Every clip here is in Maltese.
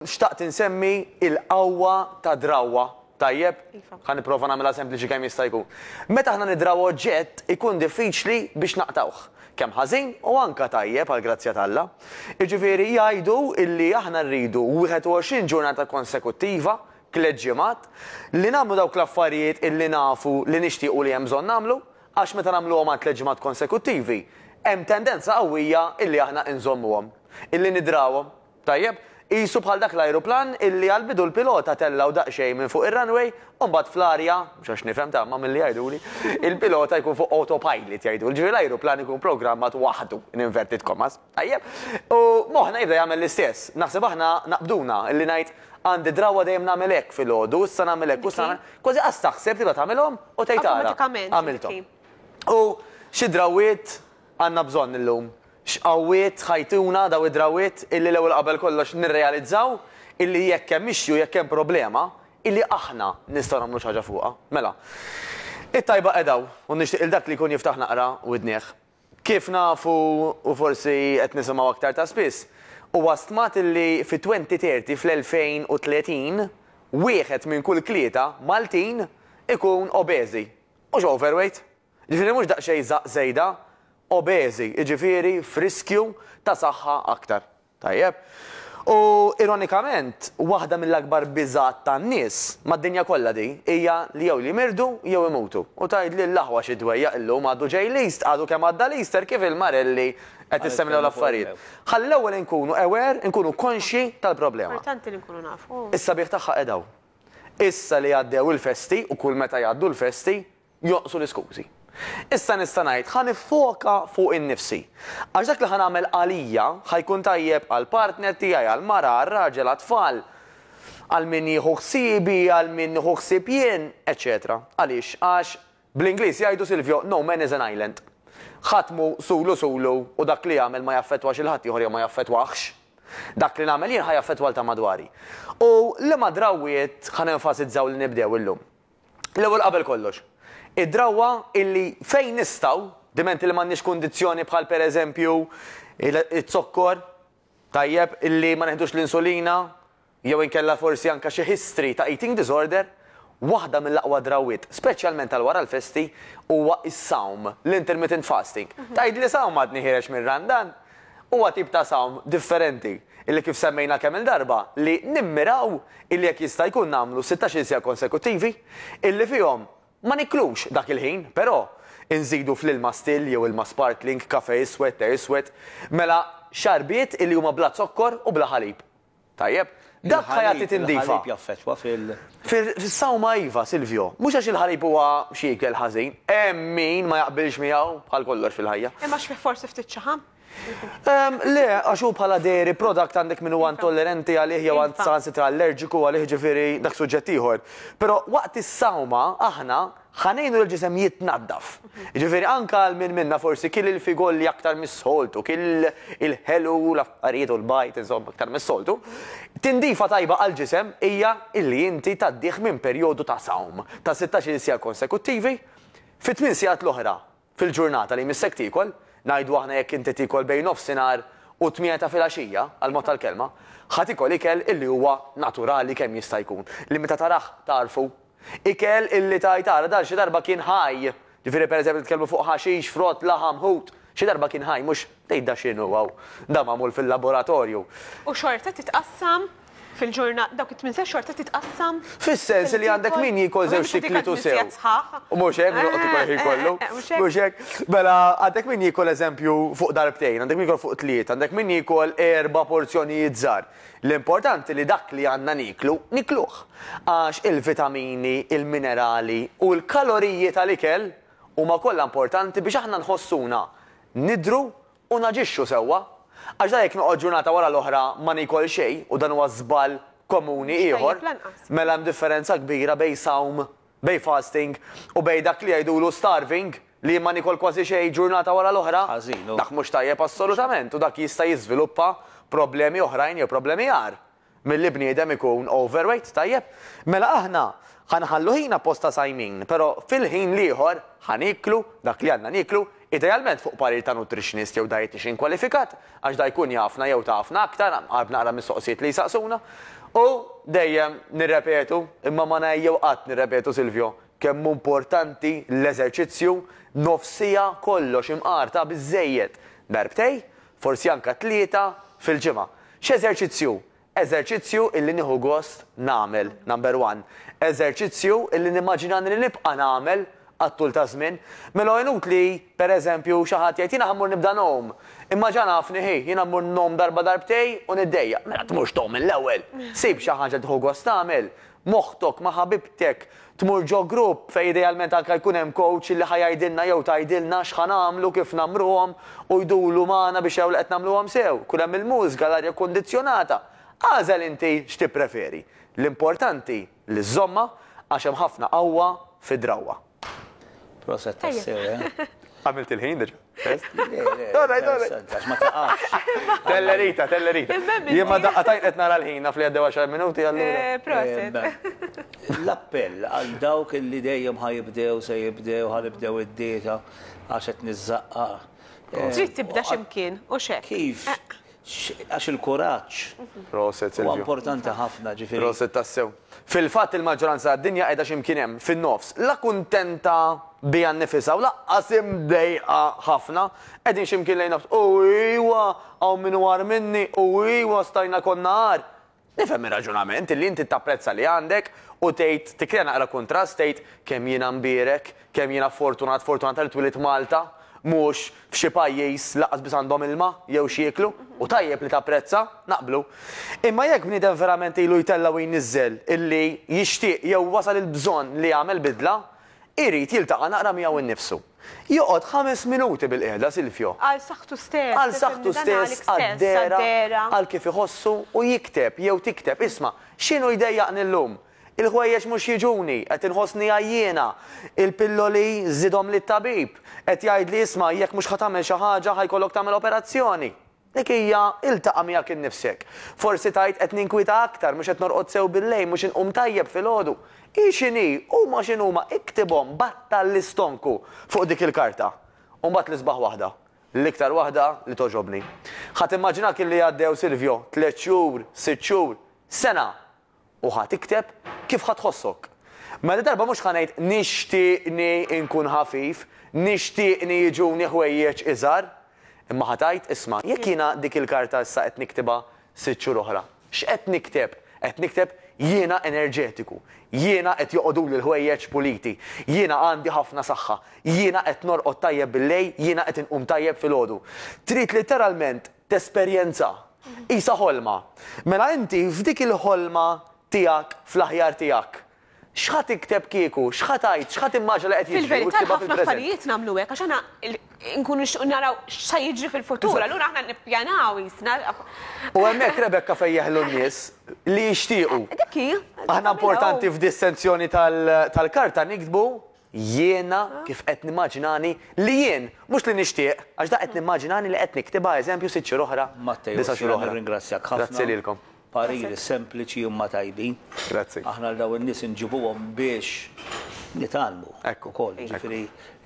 Xtaqt insemmi il-qawwa ta' drawwa, tajjeb? Iva. Ħa nipprova nagħmilha sempliċi kemm jista' jkun. Meta aħna nidraw oġġett ikun diffiċli biex naqtgħuh, kemm ħażin u anke tajjeb għall-grazzja t'Alla. Jiġifieri jgħidu illi aħna rridu 21 ġurnata konsekuttiva, tliet ġimgħat, li nagħmlu dawk l-affarijiet illi nafu li nixtiequ li hemm bżonn nagħmlu, għax meta nagħmluhom għal tliet ġimgħat konsekuttivi, hemm tendenza qawwija illi aħna inżommuhom, illi nidrawhom. Tajjeb, qisu bħal dak l-ajruplan illi għall-bidu l-pilota tellgħu daqsxejn minn fuq ir-runway u mbagħad fl-arja, mhux għax nifhem ta' imma milli jgħiduli, il-pilota jkun fuq autopilot jgħidulu, ġifieri l-ajruplan ikun programmat waħdu, in inverted commas. Tajjeb? U moħħna jibda jagħmel l-istess. Naħseb aħna naqbduna illi ngħid, għandi drawwa dejjem nagħmel hekk filgħodu, issa nagħmel hekk u issa nagħmel, kważi qas taħseb tibda tagħmilhom u tgħid ara, għamilthom. U xi drawwiet għandna bżonn illum? X'qawwiet ħa jtuna dawn id-drawwiet illi l-ewwel qabel kollox nirrealizzaw illi jekk hemm issue, jekk hemm problema, illi aħna nistgħu nagħmlu xi ħaġa fuqha. Mela, it-tajba qiegħda hawn u nixtieq lil dak li jkun jiftaħ naqra widnih. Kif nafu u forsi qed nisimgħu aktar ta' spiss, huwa stmat illi fit-2030, fl-2030, wieħed minn kull tlieta Maltin ikun obeżi. Mhux overweight, Jiġifieri mhux daqsxejn żgħaq żejda, obeżi, jiġifieri f'riskju ta' saħħa aktar. Tajjeb. U ironikament, waħda mill-akbar biżgħat tan-nies, mad-dinja kollha di, hija li jew jimirdu jew imutu. U tgħidli l-aħwa xi dwejjaq illum għadu ġej l-East, għadu kemm għadda l-Easter kif il-marelli qed issemlew l-affarijiet. Ħalli l-ewwel inkunu aware, inkunu konxji tal-problema. Importanti li nkunu nafu. Is-sabiħ tagħha qiegħed hawn. Issa li għaddew il-festi, u kull meta jgħaddu l-festi, jonqsu l-iskużi. Issa nista' ngħid, ħa niffoka fuq innifsi. Għax dak li ħa nagħmel għalija, ħa jkun tajjeb għall-partner tiegħi, għall-mara, għar-raġel, għat-tfal, għal min jieħu ħsiebi, għal min nieħu ħsieb jien, eċċetera Għaliex? Għax, bl-Ingliż jgħidu, Silvio, no man is an island. Ħadd mhu sulu sulu u dak li jagħmel ma jaffettwax il-ħaddieħor jew ma jaffettwahx. Dak li nagħmel jien ħa jaffettwa 'l ta' madwari. U liema drawwiet ħa nenfasizzaw li nibdew illum? L-ewwel qabel kollox, id-drawwa illi fejn nistgħu, dimenti li m'għandniex kundizzjoni bħal pereżempju iż-zokkor, tajjeb, illi ma neħdux l-insulina, jew inkella forsi anke xi history ta' eating disorder, waħda mill-aqwa drawwiet, speċjalment għal wara l-festi, huwa s-sawm, l-intermittent fasting. Tgħidli sawm għadni ħiereġ mir-Randan? Huwa tip ta' sawm differenti illi kif semmejna kemm-il darba li nimmiraw illi jekk jista' jkun nagħmlu sittax-il siegħa konsekuttivi illi fihom ma niklux dak il-ħin però inżidu fl-ilma still jew ilma sparkling, kafè iswed, te iswed, mela xarbiet illi huma bla zokkor u bla ħalib. Tajjeb. Dak ħa jagħti tindifa. Il-ħalib jaffettwa fil. Fis-sawma iva, Silvio. Mhux għax il-ħalib huwa xi ikel ħażin. Hemm min ma jaqbilx miegħu, bħal kollox fil-ħajja. Hemm għax fih forsi ftit ċaħam? Le, għax hu bħala dairy product għandek min huwa intollerenti għalih jew saħansitra allerġiku għalih ġifieri dak suġġett ieħor. Però waqt is-sawma aħna Ħa ngħinu lill-ġisem jitnaddaf. Jiġifieri anke għal min minna forsi kiel il-figolli aktar mis-soltu, kiel il-ħelu, l-affarijiet u l-bajd, insomma, aktar mis-soltu, tindifa tajba għall-ġisem hija li inti tgħaddih minn perjodu ta' sawm ta' sittax-il siegħa konsekuttivi fi tmien siegħat l-oħra Fil-ġurnata li jmissek tiekol, ngħidu aħna jekk inti tiekol bejn nofsinhar u t-tmienja ta' filgħaxija, għall-mod tal-kelma, ħa tiekol ikel illi huwa naturali kemm jista' jkun, li meta tarah tagħrfu. Ikel illi tgħid ara dan xi darba kien ħaj, ġifieri pereżempju nitkellmu fuq ħaxix, frott, laħam, ħut, xi darba kien ħaj mhux. Tgħid da x'inhu hawn? Da magħmul fil-laboratorju. U xorta titqassam fil-ġurnata, dawk it-tmien sigħat xorta titqassam. Fis-sens li għandek min jiekol żewġt ikliet u sew. U mhux hekk, mhux joqgħod ikol il-ħin kollu. Mhux hekk. Mela għandek min jiekol eżempju fuq darbtejn, għandek min jiekol fuq tlieta, għandek min jiekol erba' porzjonijiet żgħar. L-importanti li dak li għandna nieklu, nikluh. Għax il-vitamini, il-minerali u l-kaloriji tal-ikel huma kollha importanti biex aħna nħossuna nidhru u naġixxu sewwa. Għax dan jekk noqgħod ġurnata wara l-oħra ma niekol xejn u dan huwa żball komuni ieħor, mela hemm differenza kbira bejn sawm, bejn fasting, u bejn dak li jgħidulu starving, li jien ma niekol kważi xejn ġurnata wara l-oħra. Dak mhux tajjeb assolutament u dak jista' jiżviluppa problemi oħrajn jew problemi agħar. Milli bniedem ikun overweight, tajjeb, mela aħna ħa nħallu ħin appost ta' sajmin, pero' fil-ħin l-ieħor ħa nieklu dak li għandna nieklu, idealment fuq parir ta' nutritionist jew dietician kwalifikat, għax da jkun jafna jew tafna aktar, għarb naqra mis-soqsijiet li jsaqsuna. U dejjem nirrepetu, imma ma ngħejjew qatt nirrepetu Silvio, kemm hu importanti l-eżerċizzju, nofs siegħa kollox imqar ta' biżżejjed, darbtej, forsi anke tlieta, fil-ġimgħa. X'eżerċizzju? Eżerċizzju illi nieħu gost nagħmel, number one. Eżerċizzju illi nimmaġinani li nibqa' nagħmel għat-tul taż-żmien. Mela hu inutli, per eżempju, xi ħadd jgħid, jiena ħa mmur nibda ngħum. Imma ġa nafni, hi, jiena mmur ngħum darba darbtejn u niddejjaq. Mela tmurx tgħum mill-ewwel. Sib xi ħaġa li tieħu gost tagħmel. moħħtok ma' ħabibtek tmur ġo grupp fejn idealment anke jkun hemm coach li ħa jgħidilna jew tgħidilna x'ħa nagħmlu, kif nagħmruhom u jduru magħna biex jaraw li qed nagħmluhom sew. Jkun hemm il-mużika, l-arja kkundizzjonata. Agħżel inti x'tippreferi. L-importanti li żżommha għax hemm ħafna qawwa fid-drawwa. Proset tassew, eh? Għamilt il-ħin diġa. Għax ma taqax. Tellerita, tellerita. Jien ma daqqa tajt qed nara l-ħin naf li għaddew 10 minuti għallu. Eh, proset. L-appell għal dawk li dejjem ħajibdew se jibdew ħalibdew id-dieta għax qed niżżaqqa. Eh, Trid tibda x'imkien u xek. Kif? Eh. Għax il-kuraġġ huwa importanti ħafna, ġifieri. Proset tassew. Fil-fatt il-maġġoranza tad-dinja qiegħda xi mkien hemm, fin-nofs. La kuntenta biha nnifisha u lanqas imdejqa ħafna. Qegħdin xi mkien lejn nofs. U ijwa! Hawn min hu agħar minni! U ijwa! Stajna konna agħar! Nifhem ir-raġunament, li inti tapprezza li għandek u tgħid, tikkrea naqra kuntrast, tgħid, kemm jiena mbierek, kemm jiena fortunat, fortunata li twilit Malta, mhux f'xi pajjiż lanqas biss għandhom ilma jew x'jieklu, u tajjeb li tapprezza, naqblu. Imma jekk bniedem verament ilu jtella' u jniżżel illi jixtieq jew wasal il-bżonn li jagħmel bidla, irid jiltaqa' naqra miegħu nnifsu. Joqgħod ħames minuti bilqiegħda, Silvio. Għal saħħtu stess. Għal saħħtu stess, għad-dehra, għal kif iħossu u jikteb jew tikteb, isma', x'inhu jdejjaqni llum? Il-ħwejjeġ mhux jiġuni, qed inħossni għajjiena. Il-pilloli żidhomli t-tabib. Qed jgħidli, isma', jekk mhux ħa tagħmel xi ħaġa, ħa jkollok tagħmel operazzjoni. Dik hija, iltaqa' miegħek innifsek. Forsi tgħid, 'Qed ninkwieta aktar, mhux qed norqod sew billejl, mhux inqum tajjeb filgħodu. Hi x'inhi, huma x'inhuma, iktibhom, battal l-istonku fuq dik il-karta. U mbagħad l-isbaħ waħda, l-iktar waħda li togħġobni. Ħa timmaġina kemm li għaddew, Silvio, tliet xhur, sitt xhur, sena! U ħa tikteb kif ħa tħossok. Mela darba mhux ħa ngħid nixtieqni nkun ħafif, nixtieqni jiġuni ħwejjeġ iżgħar. Imma ħa tgħid, isma', jekk jiena dik il-karta issa qed niktibha sitt xhur oħra, x'qed nikteb? Qed nikteb jiena enerġetiku, jiena qed joqogħduli l-ħwejjeġ puliti, jiena għandi ħafna saħħa, jiena qed norqod tajjeb billejl, jiena qed inqum tajjeb filgħodu. Trid litteralment tesperjenza. Qisha ħolma. Mela inti f'dik il-ħolma tiegħek fl-aħjar tiegħek, x'ħa tikteb kieku, x'ħa tgħid, x'ħa timmaġina li qed jiġri u Fil-verità tiktibha l-ħafna fil-preżent. affarijiet nagħmlu hekk għax aħna l- nkunu nixtiequ naraw x'sa jiġri fil-futur, allura aħna nippjanaw qisna. U hemmhekk, Rebecca, fejn jeħlu n-nies li jixtiequ. Dik hi. Aħna importanti f'dissenzjoni tal-karta niktbu Jiena kif qed nimmaġinani li jien, mhux li nixtieq, għax dak qed nimmaġinani li qed niktibha eżempju sitt xhur oħra, disa' xhur oħra. Grazzi lilkom. Pariri sempliċi imma tajbin. Grazzi. Aħna għal dawn in-nies inġibuhom biex nitgħallmu ukoll. Jiġifieri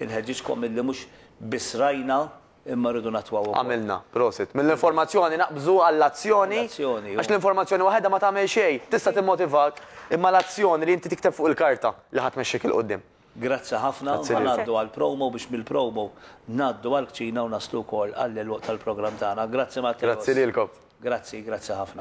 nħeġġiġkom illi mhux biss rajna, imma rridu nattwaw ukoll. Għamilna, prosit. Mill-informazzjoni naqbżu għall-azzjoni, għax l-informazzjoni waħedha ma tagħmel xejn, tista' timmotivak, imma l-azzjoni li inti tikteb fuq il-karta li ħa tmexxik 'il quddiem. Grazzi ħafna, ħa ngħaddu għall-promo biex mill-promo ngħaddu għall-kċina u naslu wkoll għall-għeluq tal-programm tagħna. Grazzi Matteo. Grazzi lilkom. Grazzi, grazzi ħafna.